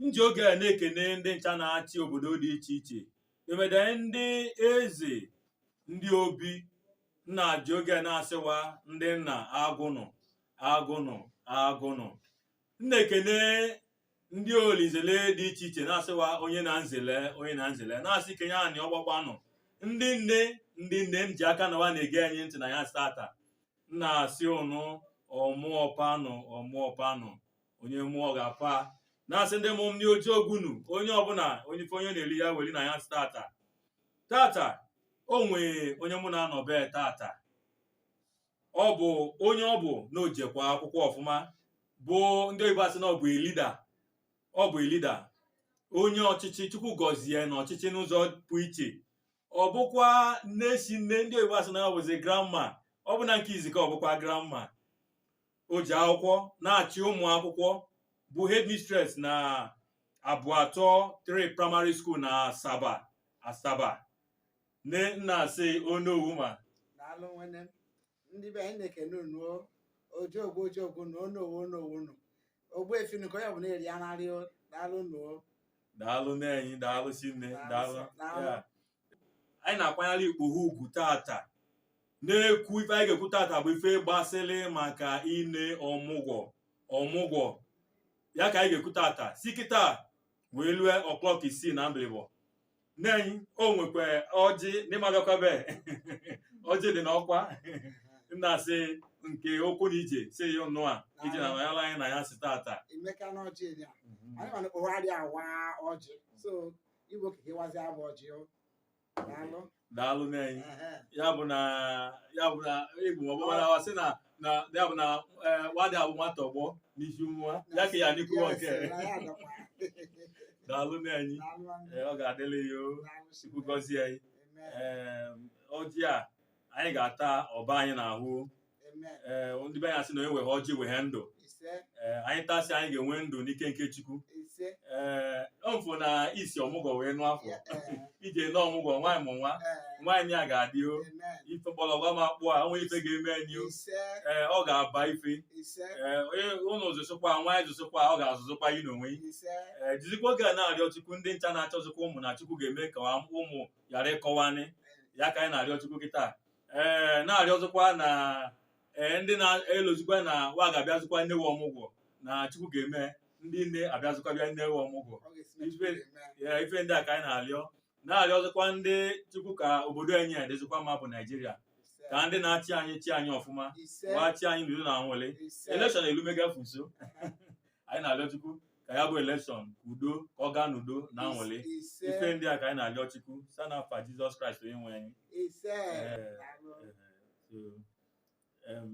m ji oge a na-ekene ndị ncha na-achị obodo dị iche iche emede ndị eze ndị obi m na-eji oge a na-asị wa ndị nna agụnụ agụnụ agụnụ m na-ekene ndị olinzele dị iche iche na-asị wa onye na nzele onye na nzele na-asị kenye anị ọgbakwanụ ndị nne ndị nne m ji aka na wa na-ege anyị ntị n'anyasị tata m na-asị ụnụ ọmụọpanụ ọmụọpanụ onye mụọ ọ ga-apa na-asị ndị mụ m ndị ojiogwu nụ onye ọbụla onye ife onye na-eri ya weli n'anyasị tata tata o nwee onye mụ na-anọ be tata ọ bụ onye ọ bụ na o jekwa akwụkwọ ọfụma bụ ndị oyibo asị na ọ bụ a leader ọ bụ a leader onye ọchịchị chukwu gọzie na ọchịchị n'ụzọ pụ iche ọ bụkwa nne si nne ndị oyibo asị na ọ bụzi grandma ọ bụ na nke izika ọ bụkwa grandma o ji akwụkwọ na-achị ụmụ akwụkwọ bụ headmistress na abụ atọ three primary school na asaba asaba nne m na-asị onowu ma daalụ nwene ndị be anyị na-ekene unu ojiogwu ojiogwu na onowu onowu unu ogbuefi nụ ka onye ọbụla eri anarị daalụ unu daalụ nne anyị daalụ si nne daalụ Daalụ. ya anyị na-akwanyere ikpoho ugwu tata na-ekwu ife anyị ga-ekwu tata bụ ife gbasịrị maka ine ọmụgwọ ọmụgwọ ya ka anyị ga-ekwu tata si kịta wee lue o'clock isii na mbilibọ nne anyị o nwekwa ọjị n'ịmagakwabe ọjị dị n'ọkwa m na-asị nke okwu na ije si ya ọnụ a ije na manyala anyị n'anyasị tata emeka na ọjị dị a anyị mana ụgharị awa ọjị so Igbo ka ịwazi abụ ọjị o. Daalụ. daalụ nne anyị Ehe. ya bụ na ya bụ na igbo ma ọ bụrụ na ọ sị na na ya bụ na eh, nwadị abụ nwata ọgbọ n'isi nwa ya ka ya n'ikwuwa nke Yes, na ya adọkwa. daalụ nne anyị Daalụ nwanne. Eh, ọ ga-adịrị ya o Daalụ si. chukwu gọzie anyị Amen. Em, ọjị a anyị ga-ata ọ baa anyị n'ahụ ee ndị be ya sị na onye wehe ọjị wehe ndụ ee anyị tasị anyị ga-enwe ndụ n'ike nke Chukwu ee mfụ na isi ọmụgwọ wee nụ afọ ije nọ ọmụgwọ nwaanyị mụ nwa nwaanyị a ga-adị o ife gbọlọgwa ma kpụọ a o nwe ife ga-eme anyị o ee ọ ga-aba ife ee onye ụlọ zụsịkwa nwaanyị zụsịkwa ọ ga-azụzikwa yi n'onwe yi ee jizikwa oge a na-arịọ Chukwu ndị ncha na-achọzikwa ụmụ na Chukwu ga-eme ka ụmụ ghara ịkọ wa nị ya ka anyị na-arịọ Chukwu kịta ee na-arịọzikwa na ee ndị na-elozikwa na wa ga-abịazikwa ne wa ọmụgwọ na chukwu ga-eme ndị nne abịazikwa bịa ne wa ọmụgwọ ya ife ndị a ka anyị na-arịọ na-arịọzikwa ndị chukwu ka obodo anyị a dịzikwa mma bụ nigeria ka ndị na-achị anyị chị anyị ọfụma wa chị anyị n'udo na nwere election elumega nso anyị na-arịọ chukwu ka ya bụ elekshọn ka udo ka ọ gaa n'udo na anwụlị Ise. ife ndị a ka anyị na-arịọ chukwu sa na afa jizọs kraịst onye nwe anyị Ise. Eh. Daalụ. Eh, so, em,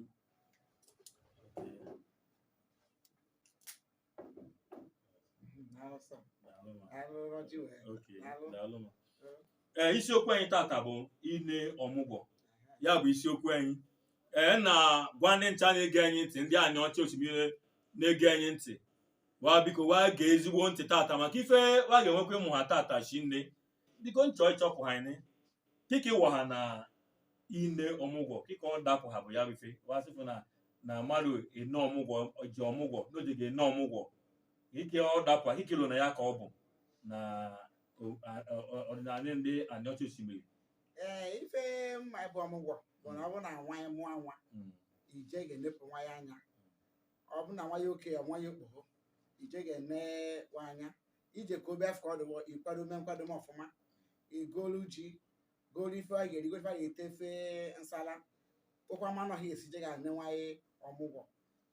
Daalụ sir. daalụ ma. Daalụ Roger wee. Okay, Daalụ. daalụ ma. ee isiokwu anyị tata bụ ine ọmụgwọ ya bụ isiokwu anyị ee na-agwa ndị ncha na-ege anyị ntị ndị anịọcha osimiri na-ege anyị ntị wa biko wa gee ezigbo ntị tata maka ife wa ga-enwekwa ịmụha tata so nne biko n chọ ịchọpụha anyị kị ka ị waha na ine ọmụgwọ kị ka ọ dapụha bụ ya bụ ife wa sịfụ na na mmadụ ene ọmụgwọ ji ọmụgwọ na o je ga-ene ọmụgwọ kị ka ọ dapụha ikelo na ya ka ọ bụ na o- a- ọ- ọ- ọdịnala ndị anịọcha osimiri ee ife m ma ebe ọmụgwọ bụ na ọ bụ na nwa ya mụọ nwa Mm. i je ga-enepụ nwa ya anya ọ bụ na nwa ya okei ọ nwa ya okpoho i je ga-ene nwa anya ije ka obe afọ ọdụwọ i kwadome nkwadome ọfụma i golu ji golu ife a ga-eri golu ife a ga-ete ofe nsala gokwa ma anụ ọhịa i si je ga-ene nwa ya ọmụgwọ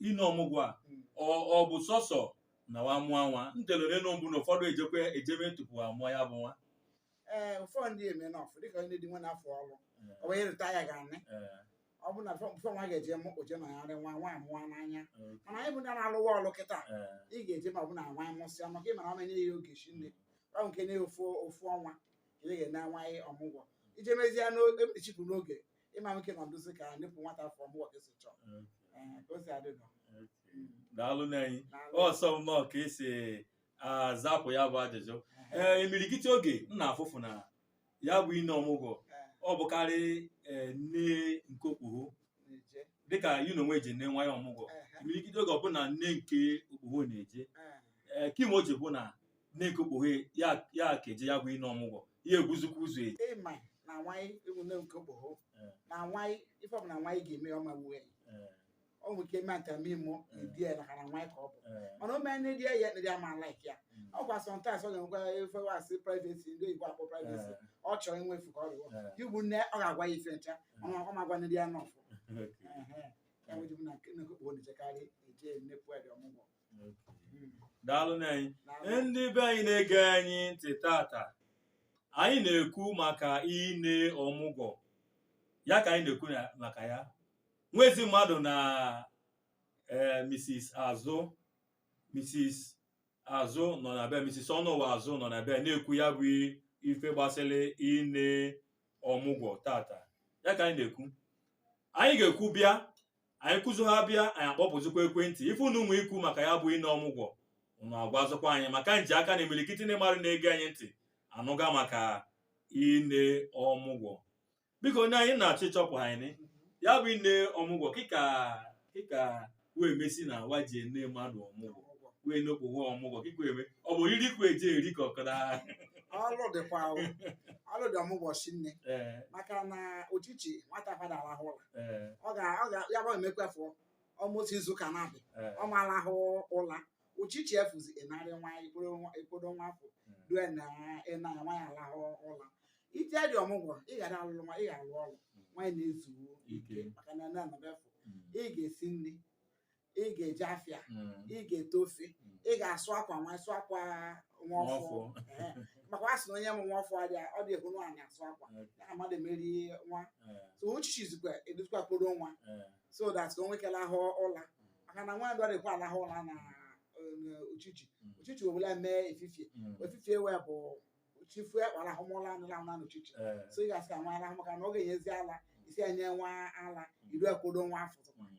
ine ọmụgwọ a Mm. ọ ọ bụ sọsọ na wa mụọ nwa ntelere nụ mbụ na ụfọdụ ejekwa ejeme tupu a mụa ya bụ nwa ee ụfọdụ ndị eme nọfụ dịka onye dị nwa n'afọ ọrụ ọ wee rịta ya ga anị Ee, ọ bụ na fọ- fọ nwa ga-eje mụ oje na ya rị nwa nwa amụọ n'anya ee, mana anyị bụ ndị na-alụ ọlụ kịta ee. ị ga-eje ma ọ bụ na nwa anyị mụsịa maka ị mara ọ ma nye ya oge shinne ọ nke nye ya ofu ofu ọnwa ka ị ga-ene nwa anyị ọmụgwọ ije mezie n'oge mechipụ n'oge ịma nwoke nọ nduzi ka nyepụ nwata fọm wọk esi chọọ Okay. Ee, ka o si adị nọ Okay. Mm. daalụ nne anyị Daalụ. ọ sọ m nọọ ka i si zapụ ya bụ ajụjụ ee imirikiti oge m na-afụfụ na ya bụ ine ọmụgwọ Ee, ọ bụkarị ee, nne nke okpoho na-eje. dịka ị nụ na onye je ine nwa ya ọmụgwọ Ehe, imirikiti oge ọ bụ na nne nke okpoho na-eje ee. ee, kị me o ji bụ na nne nke okpoho ya ya ka eje ya bụ ine ọmụgwọ ya egwuzikwa ụzọ eji ịma na nwaanyị ewu na nke okpoho Eh. na nwaanyị ife ọbụla nwaanyị ga-eme ọ ma wuo ya Eh, ọ nwere ike ime ata mee mụọ Eh. edi ya naka na nwaanyị ka ọ bụ eh, mana o mee nne di ya ya ndị ama laik ya mm, ọ kwa sọmtaịms ọ ga-enwekwa ife wa sị privesi ndị oyibo akpọ privesi eh, ọ chọrọ inwefu ka ọ rụọ eh, ị bụ nne ọ ga-agwa ya ife ncha ọ ma- ọ ma gwa nne di ya nọfụ okay. ya mere na nne nke okpoho na-ejekarị eje nne pụọ dị ọmụgwọ daalụ nne anyị ndị be anyị na-ege anyị ntị tata anyị na-ekwu maka ine ọmụgwọ ya ka anyị na-ekwu na- maka ya nwezi mmadụ na eh, Mrs. Azụ Mrs. Azụ nọ na be Mrs. Ọnụwa Azụ nọ na be na-ekwu ya bụ ife gbasịrị ine ọmụgwọ tata ya ka anyị na-ekwu anyị ga-ekwu bịa anyị kwuzuo ha bịa anyị akpọpụzikwa ekwentị ife unu nwe ikwu maka ya bụ ine ọmụgwọ unu agwazikwa anyị maka m ji aka na imirikiti ndị mmadụ na-ege anyị ntị anụga maka ine ọmụgwọ biko onye anyị na-achọ ịchọpụ anyị ya bụ ine ọmụgwọ kee ka kee ka wee mesi na wa ji ene mmadụ ọmụgwọ wee nokpụwa ọmụgwọ kee ka eme ọ bụ oriri kwa eji eri ka ọkara ọlụ dịkwa ahụ ọlụ dị ọmụgwọ sinne ee maka na uchichi nwata fa ada arahụ ụla ee ọ ga ọ ga ya bụ emekwa fọ ọmụsị izu ụka naabọ ee ọ ma-alahụ ụla uchichi efuzi ị narị nwa i kpodo nwa i kpodo nwa afọ due na ịna nwa ya alahụ ụla ije dị ọmụgwọ ị ga na-alụlụ nwa ị ga-alụ ọrụ nwaanyị na-ezu ike Ike. maka na nne nọ ebe afụ Mm. ị ga-esi nri ị ga-eje afịa Mm. ị ga-ete ofe Mm. ị ga-asụ akwa nwa sụ akwa nwa ọfụ Nwa ọfụ. Ehe. maka a sị na onye mụ nwa ọfụ adịa ọ dị ehuru ani asụ akwa Eh, ya na mmadụ emeri nwa eh, so uchichizikwa eduzikwa kpodo nwa eh. so that ka o nwee ike alahụ ụla maka na nwa adịrọ ekwe alahụ ụla na eh, uchichi Mm. uchichi o wela mee efifie Mm. efifie wee bụ chifu ekpalahụmụla anụla anụla na uchichi Eh, so ị ga-asị ka nwa alahụ maka na ọ ga-enyezi ala isi enye nwa ala iru ekpodo nwa afọ mm.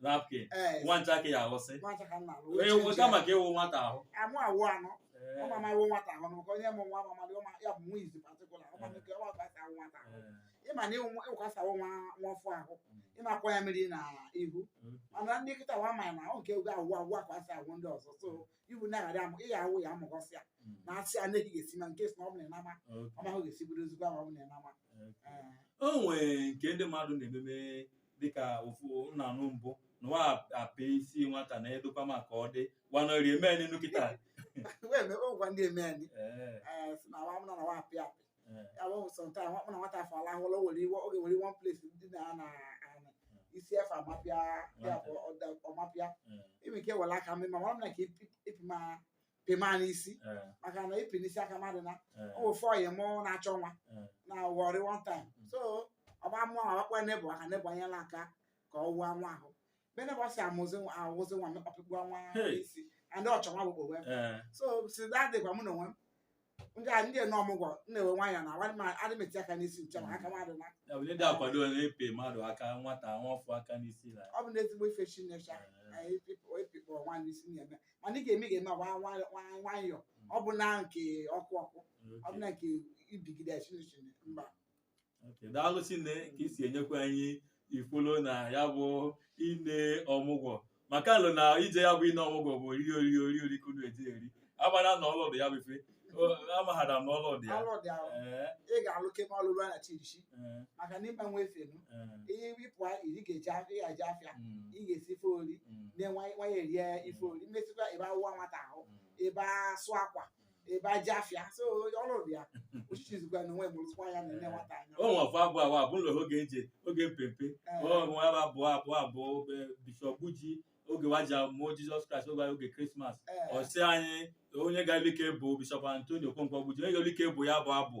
napkin Ee, nwa ncha ka ya aghọsị nwa ncha ka m na-alụ. Onye Uche nwe- nche. kama ka ịwụ nwata ahụ Amụ awụ anọ. Ee, Ọ ma ma ịwụ nwata ahụ n'ụkọ onye mụ nwa ma mmadụ ọma ya bụ nwa izi patikụla ọma nke ọma ka e si awụ nwata ahụ. ee, Ịma na ịwụ ịwụ ka e si awụ nwa nwa ọfụ ahụ. Ị ma-akwọ ya mmiri na ihu. Mm. Mana ndị kịta wa ma na ọ nke ego awụ awụ ka e si awụ ndị ọzọ. So iwu na-aghara amụ ịya awụ ya amụgọsịa. mm, Na asị a na-ehi ga-esi na nke si na ọ bụla ịnama. okay, Ọma ahụ ga-esi bụrụ ezigbo ama ọ bụla ịnama. okay. Ee. o nwee nke ndị mmadụ na-ememe dịka ofu m na-anụ mbụ na wa apị isi nwata na edokwa ma ka ọ dị wa nọri eme anyị nụ kịta wee mebe ụgwa ndị eme anyị ee ee si na nwa m na nwa apị apị ee ya bụ so that nwa m na nwata afọ alahụ ụla o were iwe oge were one place ndị na na anị isi efe amapịa ya bụ ọda- ọ ma-apịa ee ime ka ewere aka mmiri ma mara m na ka ịpị ma pịma n'isi eh, maka na ịpị n'isi aka mmadụ na eh, o nwe onye mụ na-achọ nwa eh, na Warri one time Mm. so ọ bịa mụọ nwa gwakwa neighbour ka neighbour nyela aka ka ọ wụọ nwa ahụ mgbe neighbour si amụzi nwa awụzi nwa mee pịkpọọ nwa Hey. isi and ọ chọ nwa bụ wee eh, so since that day gwa mụ na onwe m ndị a ndị n'ọmụgwọ m na-ewe nwayọ na nwanne m adị m eti aka n'isi ncha maka mmadụ na ya bụ ndị akwado na-apị mmadụ aka nwata nwafọ aka n'isi na ọ bụ na ezigbo ife chineke anyị apịkpọ nwaanyị isi na-eme mana ị ga-eme ga-eme agba nwayọ ọ bụ na nke ọkụ ọkụ ọ bụ na nke ibigide chineke mba Okay, daalụ Chinne ka isi enyekwa anyị ife i lo na ya bụ ine ọmụgwọ maka a lo na ije ya bụ ine ọmụgwọ bụ oriri oriri ka unu eje eri amara na ọlụ dị ya bụ ife O- amaghara m na ọlụ dị ya ọlụ dị ahụ Ee, ị ga-alụ kebe ọlụ ruo na chirichi ee, maka na ịgbanwe efenu ee, ihe wipụ ị ga-eje afịa ị ga-eje afịa mm, ị ga-esi ife ori mm, na nwanyị erie ife ori emesịkwa ebe awụwa nwata ahụ mm. ebe asụ akwa ebe eje afịa so ọrụ dị ya ochichi zikwa na onwe mụrụzikwa ya na nne nwata anya o nwefu abụ abụ abụ ụlọ oge eji oge mpempe ọnwa ebe abụ abụ abụ be- bishọp buji oge wa ji mụọ jizọs kraịst oge oge krismas Ee, ọsị anyị onye ga-elike bụ bishọp antonio okonkwo buji onye ga-elike bụ ya bụ abụ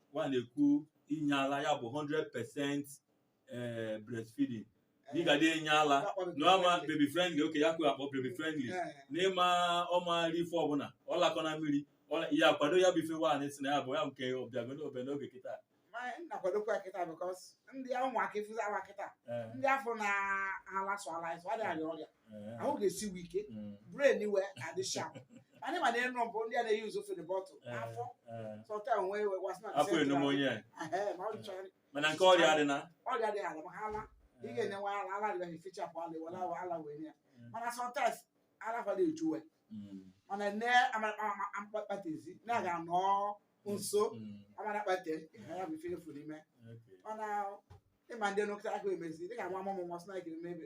wa na-ekwu inye ala ya bụ 100% eh, breastfeeding dịka dị enye ala n'ọma baby friendly ọ ya ka wa akpọ baby friendly n'ịma ọ ma eri ife ọbụla ọ lakọ na mmiri ọ- ya akwado ya bụ ife nwaanyị si na ya bụ ya nke ọbịagolo obe n'oge kịta na-akwadokwa kịta bikos ndị ụmụaka ịfụzi awa kịta Eh, ndị afụ na-ala sọ ala sọ adịghị arịa ọrịa Eh, ahụ ga-esi wee ike mm, brain we adị sharp anyị ma na ịnụ bụ ndị a na-eyi ụzọ fere bottle eh, afọ eh. sọta onwe ewe wa sị na afọ enum onye a. Ehe, ma ọ chọrọ mana nke ọrịa adị na ọrịa dị ala ma ha ala ị ga-enye nwa ala ala dị fichapụ ala were awa ala wee nye ya Mm. mana sometimes ala ụfọdụ eju we Mm, mana nne ama kpatezi na-aga nọ nso mm, amara kpate ihe ya bụ ife efu n'ime okay. mana ịma ndị nụkịta aka emezi dịka nwa mụmụ nwa sịna ekiri mebe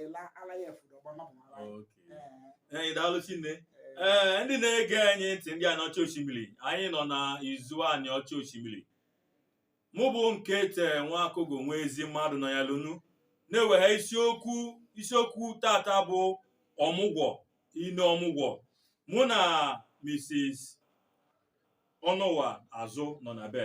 ịla ala ya efu dọgba mmadụ mara ya. Okay. Ee, Ee, daalụ Chinne. ee. Ee, ndị na-ege anyị ntị ndị Aniọcha Oshimili anyị nọ na Izu Aniọcha Oshimili mụ bụ nke te nwa akụgụ nwa ezi mmadụ nọyalụ unu na-ewegha isiokwu isiokwu tata bụ ọmụgwọ ine ọmụgwọ mụ na Mrs. Ọnụwa Azụ nọ na be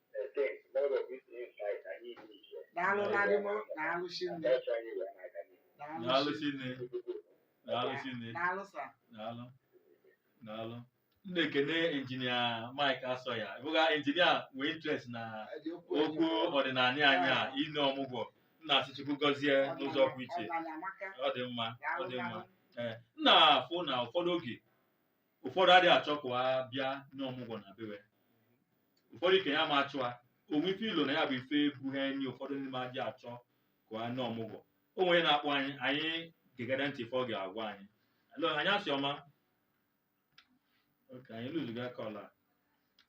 daalụ na-adị m daalụ chinne daalụ chinne daalụ chinne daalụ sa daalụ daalụ m na-ekene injinia Mike Asọya bụga injinia nwee interest na okwu ọdịnanị anyị a ine ọmụgwọ m na-asị Chukwu gọzie n'ụzọ pụrụ iche ọ dị mma ọ dị mma ee m na-afụ na ụfọdụ oge ụfọdụ adị achọ ka wa bịa ne ọmụgwọ na be we ụfọdụ ikenye ama achọ a o nwe ife i lo na ya bụ ife bụ ha enyi ụfọdụ ndị ma adị achọ ka wa ne ọmụgwọ o nwe onye na-akpọ anyị anyị gegodu ntị ife ọ ga-agwa anyị Hello, anyasị ọma okay anyị losego caller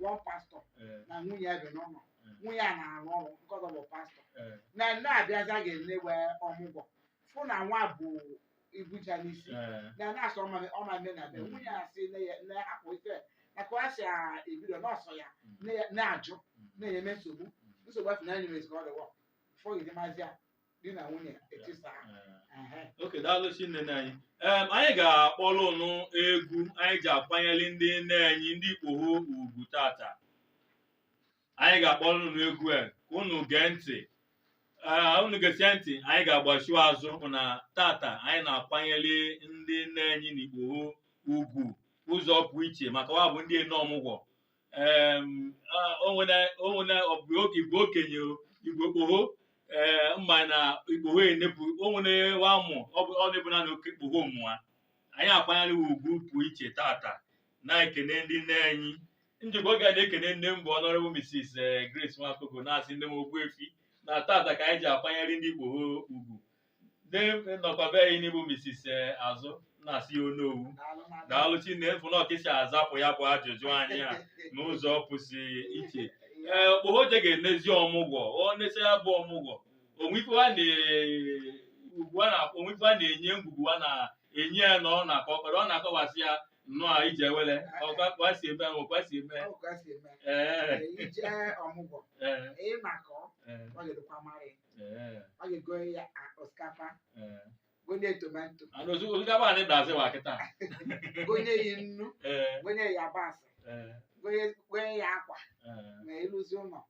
one pastọ eh, na nwunye ya bi n'ụlọ eh, nwunye ya na-arụ ọrụ nke ọzọ bụ pastọ eh, nne abịazi ga-enewe ọmụgwọ fụ na nwa bụ ibuja n'isi eh, na na-asọ ọma ọma mme na be Mm. nwunye ya sị nne ya nne ya hapụ ife na ka ọ si a- ebido n'ọsọ ya mm, nne ya ajụ mm, na-enye nsogbu nsogbu afọ na enyemezi ka ọ dịwọ fọgide mazi ya di na nwunye etisa ehe okay daalụ sinne nna anyị Em, anyị ga-akpọrọ ụnụ egwu anyị ji akwanyere ndị nne anyị ndị ikpoho ugwu tata anyị ga-akpọrọ ụnụ egwu a ka ụnụ gee ntị Ee, ụnụ gesie ntị anyị ga-agbachiwa azụ hụ na tata anyị na-akwanyere ndị nne anyị na ikpoho ugwu ụzọ pụrụ iche maka wa bụ ndị ene ọmụgwọ onwena ọbụ oge igbo okenye igbo okpoho ee mana ikpoho enepụ onwere wa mụ ọ bụ ọ na-ebu na okpoho mụa anyị akwanyere ugwu pụ iche tata na-ekene ndị nne anyị m jikwa oge a na-ekene nne m bụ Honourable Mrs. Grace Nwakogo na-asị nne m Ogbuefi na tata ka anyị ji akwanyere ndị ikpoho ugwu ne- nọkwa be anyị nị bụ Mrs. eh, Azụ na-asị ya onowu daalụ Chineke fụ na ọ ka i si azapụ ya bụ ajụjụ anyị a n'ụzọ pụsị iche ee okpoho je ga-enezi ọmụgwọ o nesịa ya bụ ọmụgwọ o nwe ife a na- ugwu a na- o nwe ife a na-enye ngwugwu a na-enye ya na ọ nakọ ọkpara ọ na-akọwasị ya nnọọ ije wele ọkwa kwa si eme ahụ kwa si eme Ọ ka si eme. ee Ije ọmụgwọ, ee ị nakọ, ee ọ ga-edokwa mara ya. Ee, ọ ga-egonye ya a- osikapa ee. gonye ya tomato Ana ozu- osikapa anyị dazi wa kịta. gonye ya nnu Ee, gonye ya yabasị ee, gonye gonye ya akwa ee. ma iruzi ụlọ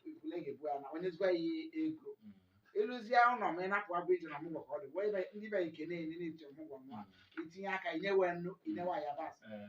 ikule ga-ebu ya na enyezikwa ya ego Mm, iruzia ụlọ ma ị napụ ya bụ ije ine ọmụgwọ ka ọ dị wee be- ndị be nke na-enye na-eje ọmụgwọ ma mm, itinye aka inyewe nnu inyewe yabasị ee.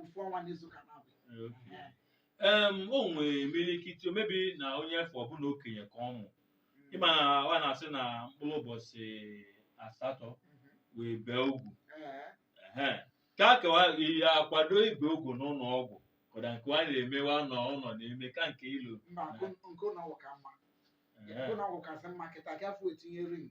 ofu ọnwa n'izu ka ọ na-abụ Okay. Em, o nwere imirikiti omebi na onye afụ ọ bụ nwa okenye ka ọ mụ ị ma na wa na-asị na mkpụrụ ụbọchị asatọ wee bee ugwu Ee, Ehe. ka a kewa ihe akwado ibe ugwu n'ụlọ ọgwụ kọda nke wa na-emewa n'ụlọ na-eme ka nke ilu mba nke nke ụlọ ọgwụ ka mma Ehe. nke ụlọ ọgwụ kasị mma kịta ka afọ etinye ring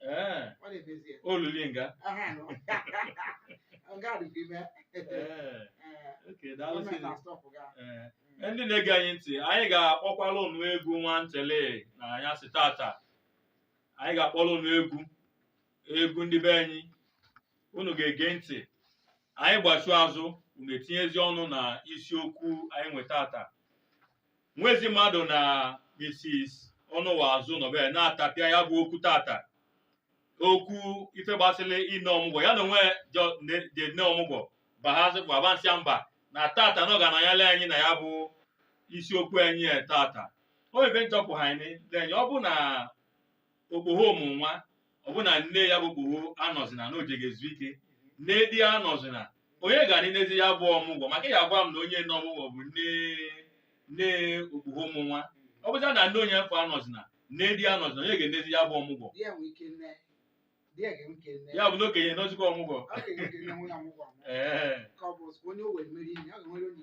Ee, ọ na-emezie olili nga aha nọ nga adịghị ime Ee, okay daalụ gọọmenti sịrị na-astọpụ ya Ee, ndị na-ege anyị ntị anyị ga-akpọkwala unu egwu nwa ntele na anyị sị tata anyị ga-akpọrọ unu egwu egwu ndị be anyị unu ga-ege ntị anyị gbachuo azụ unu etinyezi ọnụ na isiokwu anyị nwe tata nwezi mmadụ na Mrs. ọnụwa azụ nọbe na-atapịa ya bụ okwu tata okwu ife gbasịrị ine ọmụgwọ ya na onwe jọ- ne- je ine ọmụgwọ bahazi bụ abansịa mba na tata na ọ ga anọnyere anyị na ya bụ isiokwu anyị a tata o nwe ife nchọpụ ha anyị lenye ọ bụ na okpoho mụ nwa ọ bụ na nne ya bụ okpoho anọzina na o jego ezu ike nne di ya anọzina onye ga-enezi ya bụ ọmụgwọ maka ya gwa m na onye nọ ọmụgwọ bụ nne nne okpoho mụ nwa ọ bụzi na nne onye mfọ anọzina nne di ya anọzina onye ga-enezi ya bụ ọmụgwọ Di ya nwee ike nee. Di ya ga-enwe ike nee. ya bụ na okenye nọzikwa ọmụgwọ Ọ ga-enwe ike nee nwunye ọmụgwọ ọmụ. ee Ka ọ bụ onye o wee mere ihe, ọ ga-enwere onye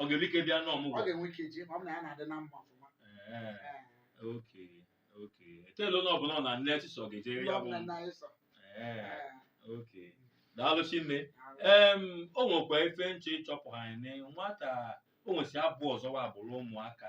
ọ ga-enwe ike bịa n'ọmụgwọ ọ ga-enwe ike ji ma ọ bụ na ya na-adị na mma ọfụma Ee, Ee, okay okay ekele onye ọbụla na nne chisọ ga-ejere ndị ya bụ ọbụla nna anyị sọ Ee, Ee, okay daalụ shinne daalụ. em o nwekwa ife nche ịchọpụ anyị na nwata o nwesi abụ ọzọ wa abụrụ ụmụaka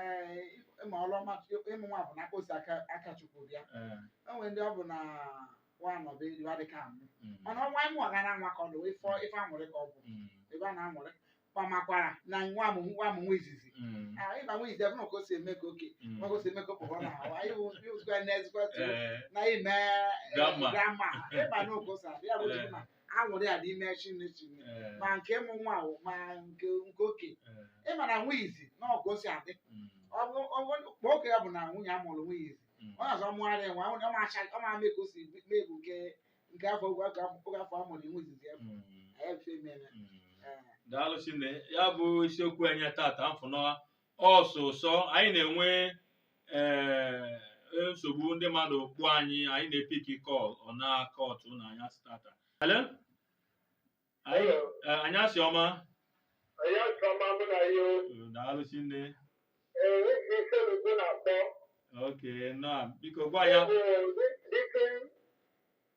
ee ịma ọrụ ọma ịmụ nwa bụ na aka o si aka aka chukwu bịa Eh, enwe ndị ọ bụ na nwa nọbe iwe adịka amụ mm, mana ọnwa ịmụ ọga na nwa ka ọ dị wee fọ ife aṅụrị ka ọ bụ mm, ebe a na-aṅụrị kpamakwara na nwa m nwa m nwa izizi mm, Ah, ịma nwa izizi ebe na ka o si eme ka oke mm. nwa ka o si eme ka okpoho na ahụ anyị bụ ndị ozugbo na ezigbo tụrụ Eh, na ime Grandma. Grandma ịma na oge o si abịa ya bụ tupu na aṅụrị adị ime shinne Eh, ma nke mụ nwa ahụ ma nke nke oke eh, ị ma na nwa izizi na otu o si adị mm, ọ bụ ọ bụ- kpọọ oke ya bụ na nwunye a mụrụ nwa izizi mm, ọ na-azọ mụgharị nwa ọ na- ọ ma acha- ọ ma mee ka o si mee bụ nke nke afọ oge afọ oge afọ a mụrụ nwa izizi ya mm, anyị ife mere mm. Eh, daalụ shinne ya bụ isiokwu anyị tata m fụ na ọsụsọ anyị na-enwe ee nsogbu ndị mmadụ ịkpọ anyị anyị na-epiki call ọ na-akọtụ na anyasị tata Hello? Anyị eh, anyasị ọma Onye ọchọma mụ na ya o. Eh, daalụ shinne Ee, ị si Issele-Uku na-akpọ. okay na biko gwa ya Ee, dịka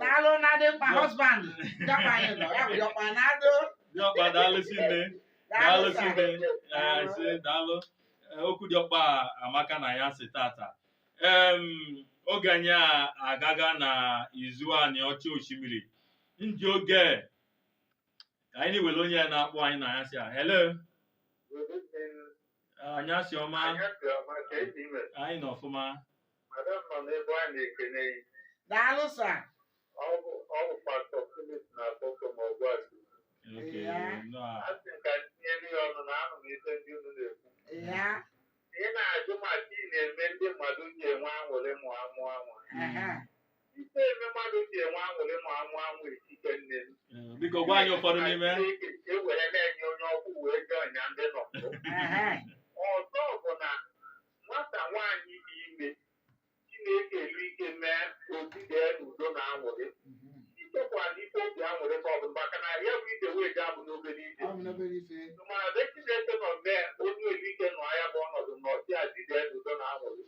daalụ na dịọkpa husband dịọkpa anyị nọ ya bụ dịọkpa na adụ dịọkpa daalụ shinne daalụ shinne ise daalụ okwu dịọkpa amaka na anyasị tata em oge anyị a agaga na izu Aniocha Oshimili ndị oge ka anyị na-ewere onye na-akpọ anyị na anyasị a hello anyasị ọma anyị nọ ọfụma daalụ sir Okay, Ya. no, ya ị na-ajụ ma gịnị na-eme ndị mmadụ ji enwe aṅụrị ma a mụa nwa aha Ife eme mmadụ ji enwe aṅụrị ma amụ amụ etike nne m. Eh, Biko gwa anyị ụfọdụ n'ime ha. Chineke e were na-enye onye ọkụ wee jee ọnya ndị nọ mbụ. Ehe. Ọzọ bụ na nwata nwaanyị dị ime Chineke nwelu ike mee o zidee n'udo na aṅụrị. Ichekwala ife obi aṅụrị ka ọ bụ maka na ya bụ ije wee je abụrọ obere ije. Ọ bụrọ obere ife. Mana ebe Chineke nọ mee o nwelu ike nọ ya bụ ọnọdụ na ọchị a zide n'udo na aṅụrị.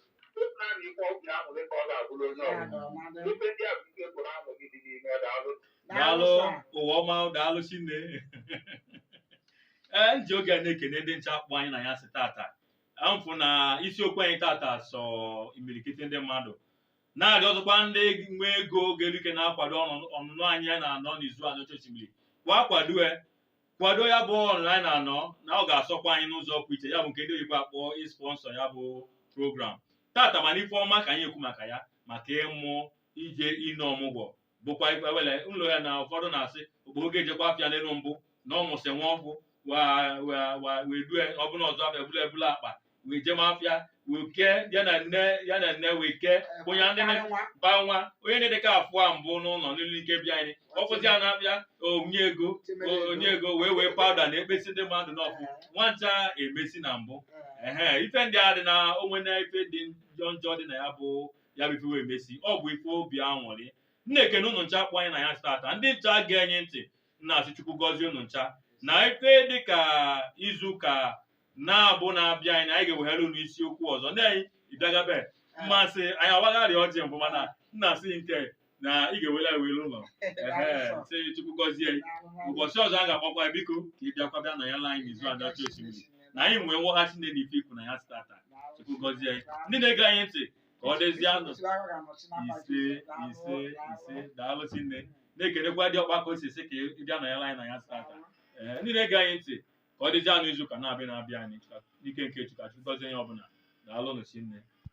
naanị ikpe ọgwụ ya nwere ka ọ ga-abụrụ onye Ya ọbụla nọ na dị. ife ndị a bụ ife pụrụ ahụ gị dị n'ime ya daalụ daalụ sir. ụwa ọma daalụ shinne ee m ji oge a na-ekene ndị ncha kpọ anyị n'anyasị tata m fụ na isiokwu anyị tata sọ imirikiti ndị mmadụ na-arịọ ọzọkwa ndị nwe ego ga-eru ike na-akwado ọnụ- ọnụnọ anyị a na-anọ n'Izu Aniocha Oshimili kwa akwado e kwado ya bụ ọnụnọ anyị na-anọ na ọ ga-asọkwa anyị n'ụzọ pụ iche ya bụ nke ndị oyibo akpọ ị sponsor ya bụ program tata mana ife ọma ka anyị ekwu maka ya maka ịmụ ije ine ọmụgwọ bụkwa ife wele ụlọ ya na ụfọdụ na-asị okporo ga-ejekwa afịa n'elu mbụ na ọ mụsị nwa ọ bụ wa- wa- wa- wee due ọ bụ n'ụzọ afịa bụla ebula akpa wee jeme afịa wee kee ya na nne ya na nne wee kee onye ndị na- Karị nwa. ba nwa onye na-adịka afụ a mbụ n'ụlọ nwelu ike bịa anyị ọ kwụsị ya n'afịa o nye ego o- o nye ego wee wee powder na-ekpesi ndị mmadụ n'ọfụ nwancha emesi na mbụ ehe ife ndị a dị na onwe na ife dị njọ njọ dị na ya bụ ya bụ ife wee mesi ọ bụ ife obi anwụrị m na-ekene ụnụ ncha kpọ anyị n'anyasị tata ndị ncha ge anyị ntị na-asị chukwu gọzie unu ncha na ife dị ka izu ụka na-abụ na-abịanụ na anyị ga-ewehalụ unu isiokwu ọzọ ndị anyị ịbịagabe mmasị anyị awagharị ọjị mbụ mana nna asị nke na ị ga-ewela ewere ụlọ Ehe, sị chukwu gọzie anyị. ụbọchị ọzọ a ga-akpọkwa ya, biko ka ị bịakwa bịa nọnyelụ anyị n'Izu Aniocha Oshimili na anyị nwee nghọta shinne na ife i kwu n'anyasị tata chukwu gọzie anyị ndị na-ege anyị ntị ka ọ dịzianụ ise ise ise daalụ shinne na-ekenekwa diokpa ka o si esi ka ị bịa nọnyelụ anyị n'anyasị tata ee ndị na-ege anyị ntị ka ọ dịzianụ izu ụka na-abịa na-abịanụ Chukwu- n'ike nke Chukwu Chukwu gọzie onye ọbụla daalụ nụ shinne